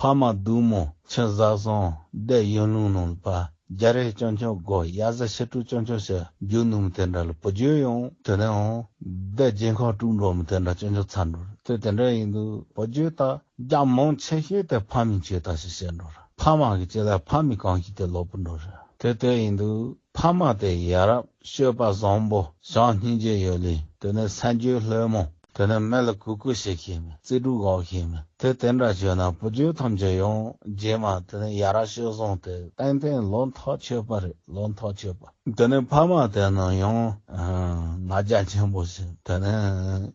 ཕ་མ་བདུད་མོ་ཆེན་བཟའ་བཟང་བདེ་གཡོན་ལུང་ནོམ་པ་རྒྱ་རི་སྤྱང་ཆུང་སྒོ་དབྱར་བཟའ་ཕྱི་དྲོ་སྤྱང་ཆུང་ཕྱི་རྒྱུད་ནོམ་དེ་འདྲ་ལ་བུ་རྒྱུད་ཡང་དེ་འདྲ་འོང་བདེ་རྗེ་འཁོར་དཀྲུག་འགྲོ་མི་དེ་འདྲ་སྤྱང་ཆུང་ཚར་འགྲོ་རེད་དེ་དེ་འདྲ་ཡིན་འདུག་བུ་རྒྱུད་དག་རྒྱ་མང་ཆེ་ཤོས་དེ་ཕ་མིས་བྱས་དང་ཞེས་བཤད་འགྲོ་རེད་ཕ་མ་གི་བྱས་ལ་ཕ་མི་གང་ཞིག་དེ་ལོག་པོ་འགྲོ་རེད་དེ་དེ་ཡིན་འདུག་ཕ་མ་དེ་ཡ་རབས་ཤོད་པ་བཟང་པོ་བྱང་སྙིང་རྗེ་ཡོད་ལུས་དེ་ནས་སེམས་རྒྱུད་ལྷོད་མོ། དེ་ནས་མེ་ལ་གུ་གུ་བྱེད་ཤེས་མིན། རྩིས་དྲུག་འགོག་ཤེས་མིན། དེ་དེ་འདྲ་བྱོས་ན་བུ་རྒྱུད་ཐམས་ཅད་ཡོངས་རྗེས་མ་དེ་ནས་ཡ་ར་ཤོད་བཟུང་སྟེ་ཏན་ཏན་ལོ་མཐོ་ཆོད་པ་རེད་ལོ་མཐོ་ཆོད་པ། དེ་ནས་ཕ་མ་དེ་རྣམས་ཡང། ང་རྒྱ་ཆེན་པོ་ཞིག་དེ་ནས་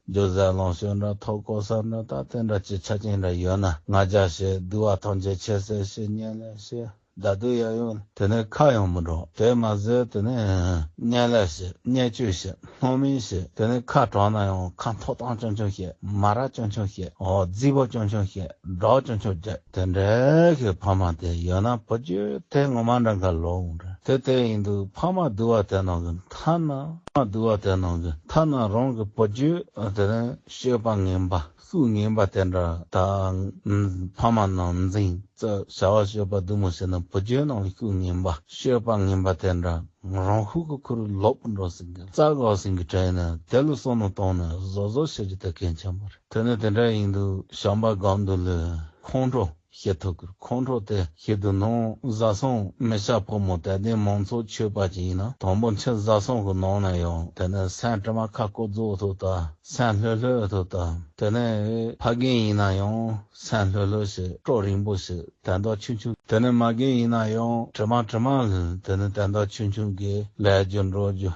རྒྱུ་བཟས་ལོངས་སྤྱོད་འདྲ་ཐོག་བསྐོར་ཟ་འདྲ་ད་ལྟའི་འདྲ་སྤྱི་ཆ་ཅན་འདྲ་ཡོད་ན་ང་རྒྱ་ཞེས་བསྡུ་བ་ཐམས་ཅད་ཆད་ཟེར་ཞེས་སྙན་ལས་ཤེས། བདག་སྡུག་ཡ་ཡོང་ནས་དེ་ནས་ཁ་ཡང་མི་འགྲོ། དེས་མ་ཟོས་དེ་ནས་བརྙན་ལས་བྱེད་བརྙན་བཅོས་བྱེད་སྣོན་མིན་བྱེད་དེ་ནས་ཁ་གྲང་ན་ཡང་ཁ་མཐོ་སྟངས་ཅུང་ཆུང་བྱེད་མ་ར་ཅུང་ཆུང་བྱེད་རྫི་བ་ཅུང་ཆུང་བྱེད་སྒྲོག་ཅུང་ཆུང་རྒྱག་དེ་འདྲ་གི་ཕ་མ་དེ་ཡོད་ན་བུ་རྒྱུད་དེ་ངོ་མ་འདྲ་མཁའ་ལོག་འོང་འདྲ་དེ་དེ་ཡིན་འདུག་ཕ་མ་བསྡུ་བ་དེ་ནང་གི་མཐའ་ན། ཕ་མ་བསྡུ་བ་དེ་ནང་གི་མཐའ་ན་རང་གི་བུ་རྒྱུད་དེ་ནས་བཤོས་པ་ངན་པ་གཟུགས་ངན་པ་དེ་འདྲ་དང། ཕ་མ་ནང་འཛིང་རྩ་བྱ་བ་སྤྱོད་པ་བདུད་མོ་ཞེས་ན་བུ་རྒྱུད་ནང་ཤུགས་ངན་པ་སྤྱོད་པ་ངན་པ་དེ་འདྲ་རང་ཤུགས་ཀྱི་ཁུར་ལོག་པར་འགྲོ་ཟིན་གི་རྩ་གག་ཟིན་གི་དྲན་ནས་དེ་ལ་སོ་ནུ་བཏང་ནས་བཟོ་བཟོ་བྱེད་རྒྱུ་དེ་གལ་ཆེན་པོ་རེད་དེ་ནི་དེ་འདྲ་ཡིན་དུས་བྱམས་པ་སྒམ་དུ་ལུས་ཁོང་ཁྲོ། ཤེས་ཐུབ་ཀྱི་ཁོང་ཁྲོ་དེ་ཤེས་དུ་ནང་བཟའ་ཚང་མི་ཤ་ཕོ་མོ་དད་ལྡན་མང་ཚོགས་མཆོད་པ་ཅན་ཡིན་ན་དང་པོ་མཆིན་བཟའ་ཚང་གི་ནང་ནས་ཡང་དེ་ནས་སེམས་དྲི་མ་ཁ་བསྐོ་རྫོགས་ཐུབ་ད་སེམས་ལྷོད་ལྷོད་ཐུབ་ད་དེ་ནས་ཕ་རྒན་ཡིན་ན་ཡང་སེམས་ལྷོད་ལྷོད་ཞིག་སྤྲོ་རིང་པོ་ཞིག་དད་མདོག་ཆུང་ཆུང་དེ་ནས་མ་རྒན་ཡིན་ན་ཡང་དྲི་མ་དྲི་མ་དེ་ནས་དད་མདོག་ཆུང་ཆུང་གིས་ལས་རྒྱུ་འགྲོ་རྒྱུ་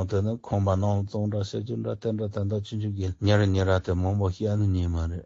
དེ་ནས་ཁོང་པ་ནང་བཙོང་འདྲ་བཤད་རྒྱུ་འདྲ་བསྟན་འདྲ་དད་མདོག་ཆུང་ཆུང་གིས་ཉེ་རེ་ཉེ་ར་དེ་མང་པོ་བཤད་ནི་ཉིན་མ་རེད།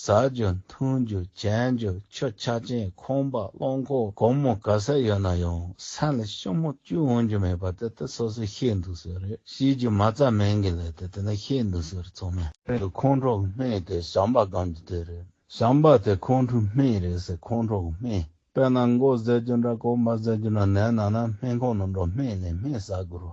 ཟ་རྒྱུ་འཐུང་རྒྱུ་བྱེད་རྒྱུ་ཆུ་ཆ་ཅན་ཁང་པ་རླངས་འཁོར་སྒོར་མོ་ག་ས་ཡོད་ན་ཡང་ས་ལ་ཤུབ་མོ་གཅུ་འོང་རྒྱུ་མེད་པ་དེ་ལྟར་སོ་སོས་བཤད་འདུག་ཟེར་རེད་བཤད་རྒྱུ་མ་རྩ་མེད་གི་ལས་དེ་དེ་འདྲ་བཤད་འདུག་ཟེར་ཚོགས་མི་དེ་ཁོང་ཁྲོ་སྨད་དེ་ཞམ་པ་སྒང་གི་དེ་རེད་ཞམ་པ་དེ་ཁོང་ཁྲོ་སྨད་རེད་ཟེར་ཁོང་ཁྲོ་སྨད་དཔེར་ན་མགོ་བཟས་རྒྱུ་འདྲ་གོ་མ་བཟས་རྒྱུ་འདྲ་ནད་ན་ན་སྨན་ཁང་ནང་འགྲོ་སྨན་ལས་སྨན་ཟ་དགོས་རོ་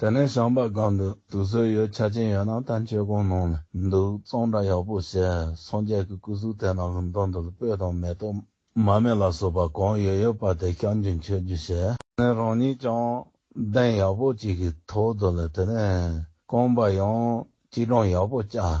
དེ་ནས་ཤངས་པ་སྒང་དུ་དུས་ཚོད་ཡོད་ཆ་ཅན་ཡོད་ན་ད་མཆོད་ཁང་ནང་ལ་འདུག་གཙང་སྦྲ་ཡག་པོ་བྱས་སངས་རྒྱས་ཀྱི་སྐུ་གཟུགས་དེ་ནང་གི་མདོ་འདི་ལ་སྤོས་དང་མེ་ཏོག་མར་མེ་ལ་སོགས་པ་གང་ཡོད་ཡོད་པ་དེ་བསྐྱང་རྒྱུ་མཆོད་རྒྱུ་བྱས་ནས་རང་ཉིད་ཀྱང་གདན་ཡག་པོ་གཅིག་གི་ཐོག་དུ་ལ་དེ་ནས་རྐང་པ་ཡང་གཅིག་གྲངས་ཡག་པོ་བཀྱགས་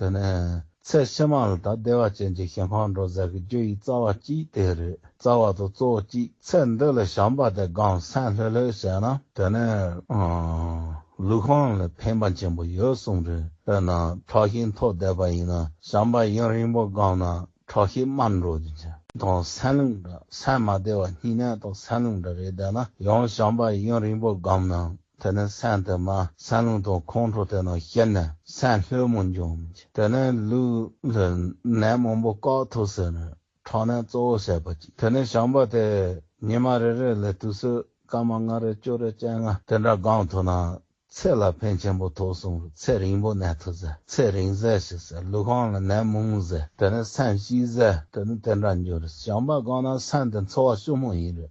དེ་ནས་ཚེ་ཕྱི་མ་ལ་དག་བདེ་བ་ཅན་གྱི་ཞིང་ཁོང་ཁྲོ་ཟད་ཀྱི་རྒྱུ་ཡི་རྩ་བ་གཅིག་དེ་རེད་རྩ་བ་དང་གཙོ་བོ་གཅིག་ཚེ་འདི་ལ་བྱམས་པ་དེ་སྒང་སེང་ལྷོད་ལྷོད་བྱས་ན་དེ་ནས་ལུས་ཁོང་ལ་ཕན་པ་ཆེན་པོ་ཡོད་གསུངས་རེད་དཔེར་ན་ཁྲག་ཤེད་མཐོ་བསྡད་པ་ཡིན་ན་བྱམས་པ་ཡུན་རིང་པོ་སྒང་ན་ཁྲག་ཤེད་དམའ་འགྲོ་རྒྱུ་ཆེ། དང་སེང་ལུང་འདྲ་སེང་མ་བདེ་བ་སྙིང་ནད་དང་སེང་ལུང་འདྲ་རེ་བསྡད་ན་ཡང་བྱམས་པ་ཡུན་རིང་པོ་སྒང་ན་དེ་ནས་སྲན་དེ་མ་སྲན་ལུང་དང་ཁོང་ཁྲོ་དེ་ན་ཤེར་ནས་སྲན་ལྷོད་མོ་འབྱུང་མི་བྱེད་དེ་ནས་ལུས་ལྷོད་ནད་མང་པོ་བཀག་ཐུབ་ཟེར་ནས་ཁྲག་ནད་གཙོ་བོ་བྱེད་པ་གཅིག་དེ་ནས་བྱམས་པ་དེས་ཉི་མ་རེ་རེ་ལས་དུས་ཚོད་སྐར་མ་ལྔ་རེ་བཅུ་རེ་སྤྱན་ལྔ་དེ་འདྲ་བསྒང་ཐུབ་ན་ཚེ་ལ་ཕན་ཆེན་པོ་ཐོག་གསུངས་རུང་ཚེ་རིང་པོ་གནས་ཐུབ་ཟེར་ཚེ་རིང་ཟས་ཤིག་ཟེར་ལུས་གང་ལ་ནད་མང་ཟེར་དེ་ནས་སྲན་ཞིག་ཟེར་དེ་ནས་དེ་འདྲ་འབྱུང་རེད་བྱམས་པ་བསྒང་ན་སྲན་དེ་འཚོ་བ་ཤུགས་མང་ཡིན་རེད།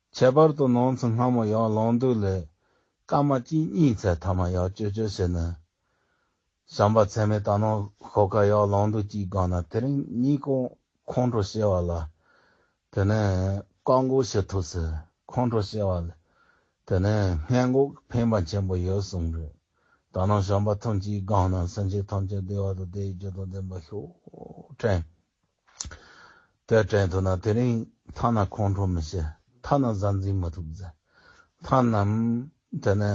ཁྱད་པར་དུ་ནང་ཚུལ་སྔ་མོ་ཡང་ལོང་འདུག་ལས། སྐར་མ་གཅིག་གཉིས་ཚེ་མཐའ་མ་ཡང་ཅོལ་ཅོལ་བྱས་ནས། བྱམས་པ་ཚད་མེད་ད་ནང་ཤོག་ཁ་ཡང་ལོང་འདུག་གཅིག་སྒང་ན་དེ་རིང་གཉིས་ཀོང་ཁོང་ཁྲོ་བཤལ་བ་ལ། དེ་ནས་བཀག་འགོག་བྱེད་ཐུབ་ཟེར་ཁོང་ཁྲོ་བཤལ་བ་ལས། དེ་ནས་སྔས་འགོག་གི་ཕན་པ་ཆེན་པོ་ཡོད་གསུངས་རེད། ད་ནང་བྱམས་པ་ཐོན་གཅིག་སྒང་ན་སེམས་ཅན་ཐམས་ཅད་བདེ་བ་དང་བདེ་བའི་རྒྱུ་དང་ལྡན་པ་ཤོག་དྲན། དེར་དྲན་ཐུབ་ན་དེ་རིང་མཐའ་ན་ཁོང་ཁྲོ་མི་བྱེད་མཐའ་ན་གཟའ་འཛིན་མི་ཐུབ་ཟེར་མཐའ་ནམ་དེ་ནས་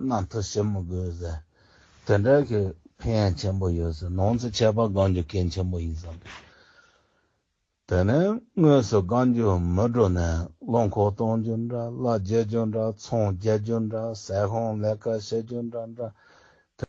གནའ་དུ་ཞི་མི་དགོས་ཟེར་དེ་འདྲ་གི་ཕན་ཡ་ཆེན་པོ་ཡོད་ཟེར་ནང་ཚེ་ཆད་པ་དགང་རྒྱུ་གལ་ཆེན་པོ་ཡིན་བསམ་པས་དེ་ནས་དངོས་སུ་དགང་རྒྱུ་མི་འགྲོ་ནས་བློ་འཁོར་གཏོང་རྒྱུ་འདྲ་བླ་རྒྱལ་རྒྱུ་འདྲ་ཚོང་རྒྱལ་རྒྱུ་འདྲ་ཟས་ཧོང་ལས་ཀ་བྱེད་རྒྱུ་འདྲ་འདྲ་དེ།